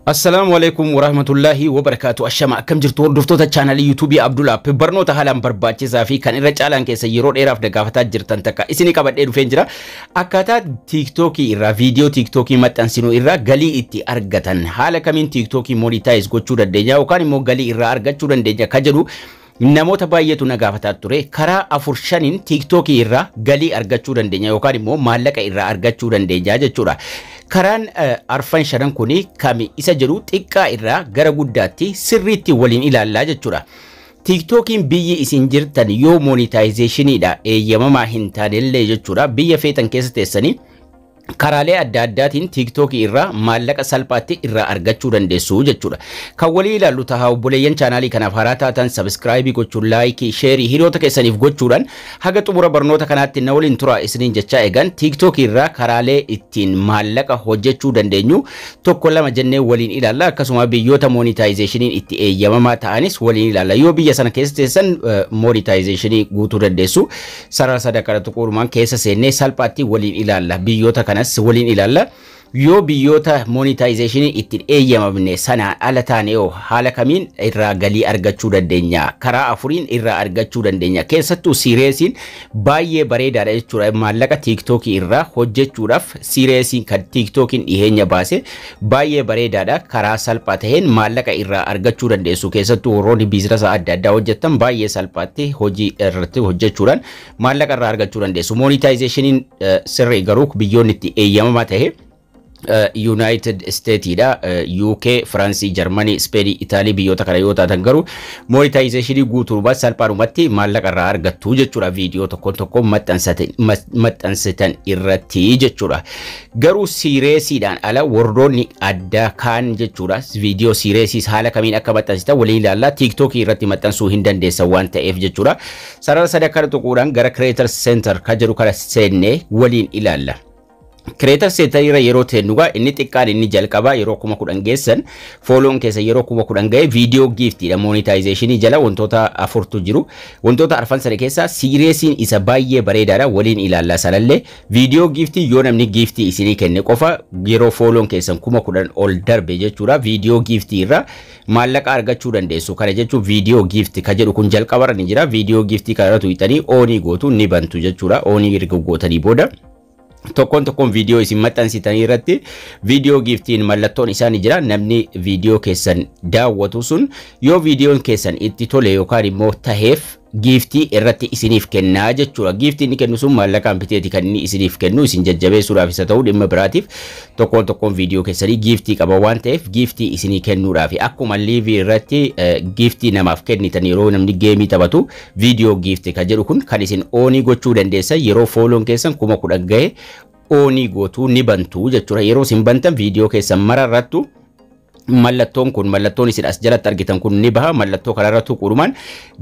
Assalaamu Aleeykum Warahmatullaahi Wabarakaatu Ashama akkam jirtu hordoftoota chaanalii yuutuubii Abdul App barnoota haalaan barbaachisaa fi kan irra caalaan keessa yeroo dheeraaf dagaafataa jirtan takka isinii qabadhee dhufeen jira akkaataa tiiktookii irraa viidiyoo tiiktookii maxxansinu irraa galii itti argatan haala kamiin tiiktookii monitaayiz gochuu dandeenya yookaan immoo galii irraa argachuu dandeenya ka jedhu Namoota baay'eetu na gaafataa ture karaa afur shaniin tiiktookii irraa galii argachuu dandeenya yookaan immoo maallaqa irraa argachuu dandeenya jechuudha. Karaan eh, arfan shanan kun kami isa jedhu xiqqaa irraa gara guddaatti sirriitti waliin ilaallaa jechuudha. Tiiktookiin biyyi isin jirtan yoo moonitaayizeeshiniidha eeyyamamaa hin taanellee jechuudha biyya feetan keessa teessanii karaalee adda addaatiin tiiktookii irraa maallaqa salphaatti irraa argachuu dandeessu jechuudha. Kan walii ilaallu tahaa obboleeyyan chaanaalii kanaaf haaraa taatan sabiskiraayibii gochuun laayikii, sheerii hiriyoota keessaniif gochuudhaan haga xumura barnoota kanaatti na waliin turaa isiniin jechaa eegan tiiktookii irraa karaalee ittiin maallaqa hojjechuu dandeenyu tokko lama jennee waliin ilaalla akkasuma biyyoota moonitaayizeeshiniin itti eeyyamamaa ta'anis waliin ilaalla yoo biyya sana keessa teessan moonitaayizeeshinii guutuu dandeessu. Sarara sadan kana tuquurumaan keessa seennee salphaatti waliin ilaalla. Biyyoota kanas waliin ilaalla. Yoo biyyoota monitaayizeeshiniin ittiin eeyyamamne sanaan ala taane hoo haala kamiin irraa galii argachuu dandeenya? Karaa afuriin irraa argachuu dandeenya. Keessattuu siireesiin baay'ee bareedaadha jechuudha. Maallaqa tiiktookii irraa hojjechuudhaaf siireesiin kan tiiktookiin dhiheenya baase Baay'ee bareedaadha. Karaa salphaa ta'een maallaqa irraa argachuu dandeessu. Keessattuu warroonni biizinasa adda addaa hojjettan baay'ee salphaatti hojii irratti hojjechuudhaan maallaqa irraa argachuu dandeessu. Moonitaayizeeshiniin sirrii garuu biyyoonni itti eeyyamamaa ta'e Yuunaayitid Isteetiidha. UK, Firaansii, Jarmanii, Ispeenii, Itaalii biyyoota kana yoo taatan garuu moonitaayizeeshinii guutuudhumaan salphaadhumatti maallaqa irraa argattu jechuudha. Viidiyoo tokkoon tokkoon maxxansitan irratti jechuudha. Garuu siireesiidhaan ala warroonni addaa kaan jechuudha viidiyoo siireesiis haala kamiin akka maxxansitan waliin ilaallaa tiiktookii irratti maxxansuu hin dandeessan waan ta'eef jechuudha. Sarara sadii akkana tuquudhaan gara Creator Center kan jedhu kana seennee waliin ilaalla. Creator Center irra yeroo teennugaa inni xiqqaan inni jalqabaa yeroo kuma kudhan geessan fooloon keessa yeroo kuma kudhan ga'e viidiyoo giiftiidha moonitaayizeeshinii jala wantoota afurtu jiru. Wantoota arfan sana keessaa siireesiin isa baay'ee bareedaadha waliin ilaallaa sanallee Viidiyoo giiftii yoo namni giiftii isinii kenne qofa yeroo fooloon keessan kuma kudhan ol darbe jechuudha viidiyoo giiftii irra maallaqa argachuu dandeessu kana jechuun viidiyoo giifti ka jedhu kun jalqabarra ni jira viidiyoo giiftii kana irra tuqxanii oonii gootu ni bantu jechuudha oonii erga gootanii booda tokkoon tokkoon viidiyoo isin maxxansitanii irratti viidiyoo giiftiin mallattoon isaa ni jira namni viidiyoo keessan daawwatu sun yoo viidiyoon keessan itti tole yookaan immoo taheef giiftii irratti isiniif kenna jechuudha. Giiftii inni kennu sun maallaqaan biteeti kan inni isiniif kennu isin jajjabeessuudhaaf isa ta'uu dhimma biraatiif tokkoon tokkoon viidiyoo keessanii giiftii qaba waan ta'eef giiftii isinii kennuudhaaf akkuma liivii irratti giiftii namaaf kennitan yeroo namni geemii taphatu viidiyoo giiftii kan jedhu kun kan isin oonii gochuu dandeessan yeroo fooloon keessan kuma kudhan gahe oonii gootuu ni bantu jechuudha. Yeroo isin bantan viidiyoo keessan mara irrattu mallattoon kun mallattoon isin as jalatti argitan kun ni baha mallattoo kanarra tuquudhumaan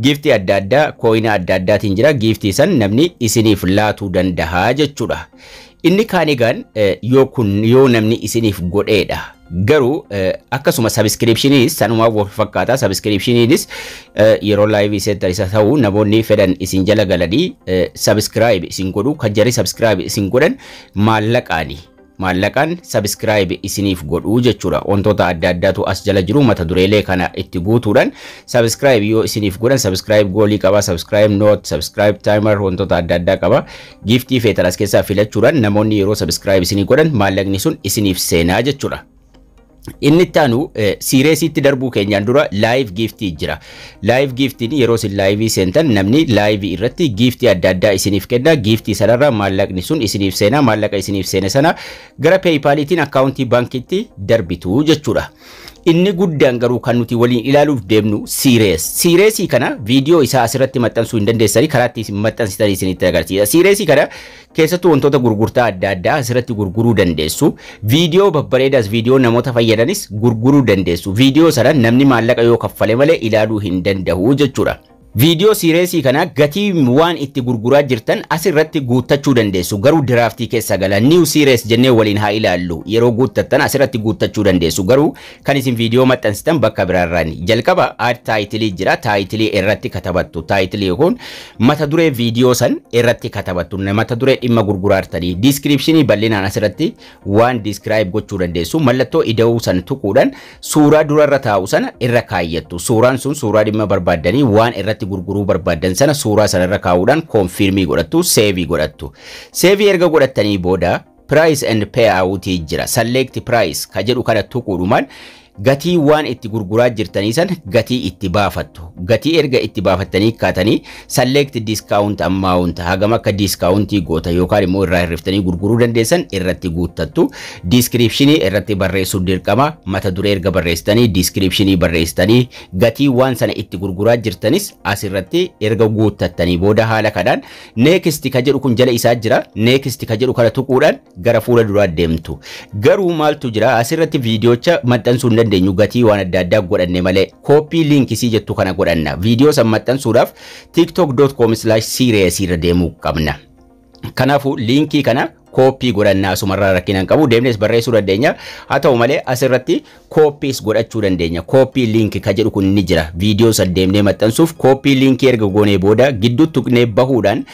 giiftii adda addaa kooyina adda addaatiin jira giiftii san namni isiniif laatuu dandaha jechuudha. Inni kaan egaan yoo kun yoo namni isiniif godheedha. Garuu akkasuma sabiskiriipshiniinis sanumaa wal fakkaata sabiskiriipshiniinis yeroo laayivii seetan isa ta'u namoonni fedhan isin jala galanii sabiskiraayib isin godhu kan jarri sabiskiraayib isin godhan maallaqaani. Maallaqaan subscribe isiniif godhuu jechuudha. Wantoota adda addaatu as jala jiru mata dureelee kana itti guutuudhaan subscribe yoo isiniif godhan subscribe goolii qaba, subscribe note, subscribe timer wantoota adda addaa qaba. Giiftii feetan as keessaa filachuudhaan namoonni yeroo subscribe isinii godhan maallaqni sun isiniif seenaa jechuudha. Inni itti aanu siireesiitti darbuu keenyaan dura laayiv giiftii jira. Laayiv giiftiin yeroo isin laayivii seentan namni laayivii irratti giiftii adda addaa isiniif kenna. Giiftii sanarraa maallaqni sun isiniif seena. Maallaqa isiniif seene sana gara peeyipaaliitiin akkaawuntii baankiitti darbitu jechuudha. Inni guddaan garuu kan nuti waliin ilaaluuf deemnu siirees. Siireesii kana viidiyoo isaa asirratti maxxansuu hin dandeessanii karaa itti isin maxxansitan isinitti agarsiisa. Siireesii kana Keessattuu wantoota gurgurtaa adda addaa asirratti gurguruu dandeessu. Viidiyoo babbareedaas viidiyoo namoota fayyadanis gurguruu dandeessu. Viidiyoo sana namni maallaqa yoo kaffale malee ilaaluu hin danda'u jechuudha. Viidiyoo siireesii kana gatii waan itti gurguraa jirtan asirratti guuttachuu dandeessu. Garuu diraaftii keessa gala. New series jennee waliin haa ilaallu. Yeroo guuttattan asirratti guuttachuu dandeessu. Garuu Kan isin viidiyoo maxxansitan bakka biraarraan jalqaba aad taayitilii jira taayitilii irratti katabattu taayitilii kun mata duree viidiyoo san irratti katabattu mata duree dhimma gurguraartanii diiskiriipshinii bal'inaan asirratti waan diiskiraayib gochuu dandeessu mallattoo ida'uu san tuquudhaan suuraa durarra taa'u sana irra kaayyattu suuraan sun suuraa dhimma barbaaddanii waan irratti gurguruu barbaaddan sana suuraa sana irra kaa'uudhaan koonfiirmii godhattu seevii godhattu seevii erga godhattanii booda Price and payout jira. Select price ka jedhu kana tuquudhumaan gatii waan itti gurguraa jirtanii san gatii itti baafattu. Gatii erga itti baafattanii kaatanii select discount amount hagam akka discountii goota yookaan immoo irraa hirriftanii gurguruu dandeessan irratti guuttattu. Description irratti barreessuun dirqama mata duree erga barreessitanii description barreessitanii gatii waan sana itti gurguraa jirtanis asirratti erga guuttattanii booda haala kanaan Next ka jedhu kun jala isaa jira. Next ka jedhu kana tuquudhaan gara fuula duraa deemtu. Garuu maaltu jira asirratti viidiyoocha maxxansuu hin dandeenyu gatii waan adda addaa godhanne malee kooppii liinkisii jettu kana godhanna. Viidiyoo san maxxansuudhaaf tiktok.com/serious irra deemuu qabna. Kanaafuu liinkii kana Kooppii godhanna asumarraa rakkina hin qabu deemnees barreessuu dandeenya haa ta'u malee asirratti kooppiis godhachuu dandeenya kooppii liinki ka jedhu kun ni jira viidiyoo san deemnee maxxansuuf kooppii liinkii erga goonee booda gidduu tuqnee bahuudhaan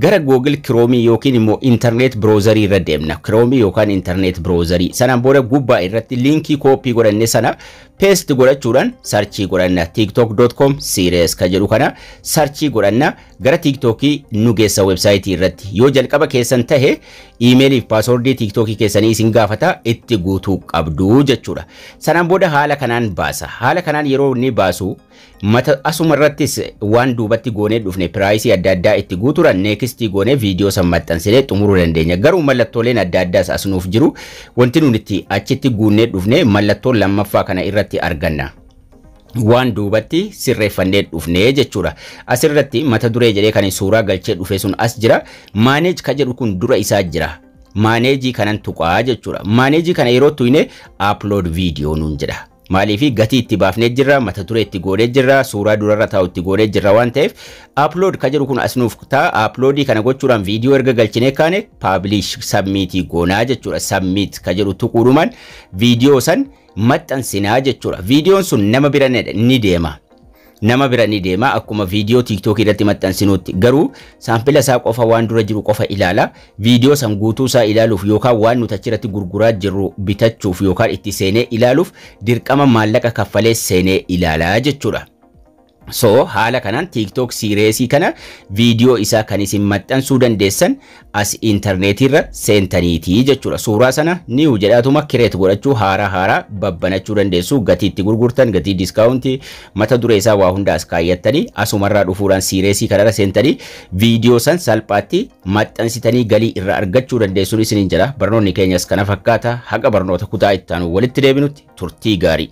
gara googil kiroomii yookiin immoo intarneet biroozarii irra deemna kiroomii yookaan intarneet biroozarii sanaan booda gubbaa irratti liinkii kooppii godhanne sana peesti godhachuudhaan sarchii godhanna tiktok.com series ka jedhu kana sarchii godhanna Gara TikTok nu geessa website irratti. Yoo jalqaba keessan tahe email fi password TikTok keessanii isin gaafata itti guutuu qabdu jechuudha. Sanaan booda haala kanaan baasa. Haala kanaan yeroo inni baasu mata asuma irrattis waan duubatti goonee dhufne piraayisii adda addaa itti guutuudhaan neekistii goonee viidiyoo san maxxansinee xumuruu dandeenya. Garuu mallattooleen adda addaas as nuuf jiru. Wanti nuti achitti guunnee dhufne mallattoo lammaffaa kana irratti arganna. waan duubatti sirreeffannee dhufne jechuudha. Asirratti mata duree jedhee kan suuraa galchee dhufe sun as jira. Maaneej ka jedhu kun dura isaa jira. Maaneejii kanan tuqaa jechuudha. Maaneejii kana yeroo tuyne upload video nuun jedha. Maaliif gatii itti baafnee jirra, mata duree itti goonee jirra, suuraa durarra taa'u itti goonee jirra waan ta'eef upload ka jedhu kun as nuuf ta'a. Uploadii kana gochuudhaan viidiyoo erga galchinee kaane publish submit goonaa jechuudha. Submit ka jedhu tuquudhumaan viidiyoo san maxxansinaa jechuudha. Viidiyoon sun nama bira ni deema. Nama bira ni deema akkuma viidiyoo tiiktookii irratti maxxansinuutti. Garuu saampila isaa qofa waan dura jiru qofa ilaala. Viidiyoo san guutuu isaa ilaaluuf yookaan waan nuti achirratti gurguraa jirru bitachuuf yookaan itti seenee ilaaluuf dirqama maallaqa kaffalee seenee ilaala jechuudha. So haala kanaan TikTok siireesii kana viidiyoo isaa kan isin maxxansuu dandeessan as intarneetii irra seentaniiti jechuudha. Suuraa sana niiw jedhaatuma kireet godhachuu haaraa haaraa babbanachuu dandeessu gatii itti gurgurtan gatii diskaawuntii mata duree isaa waa hunda as kaayyattanii asumarraa dhufuudhaan siireesii kanarra seentanii viidiyoo san salphaatti maxxansitanii galii irraa argachuu dandeessuun isiniin jedha. Barnoonni keenyas kana fakkaata haga barnoota kutaa itti aanu walitti deebinutti turtii gaarii.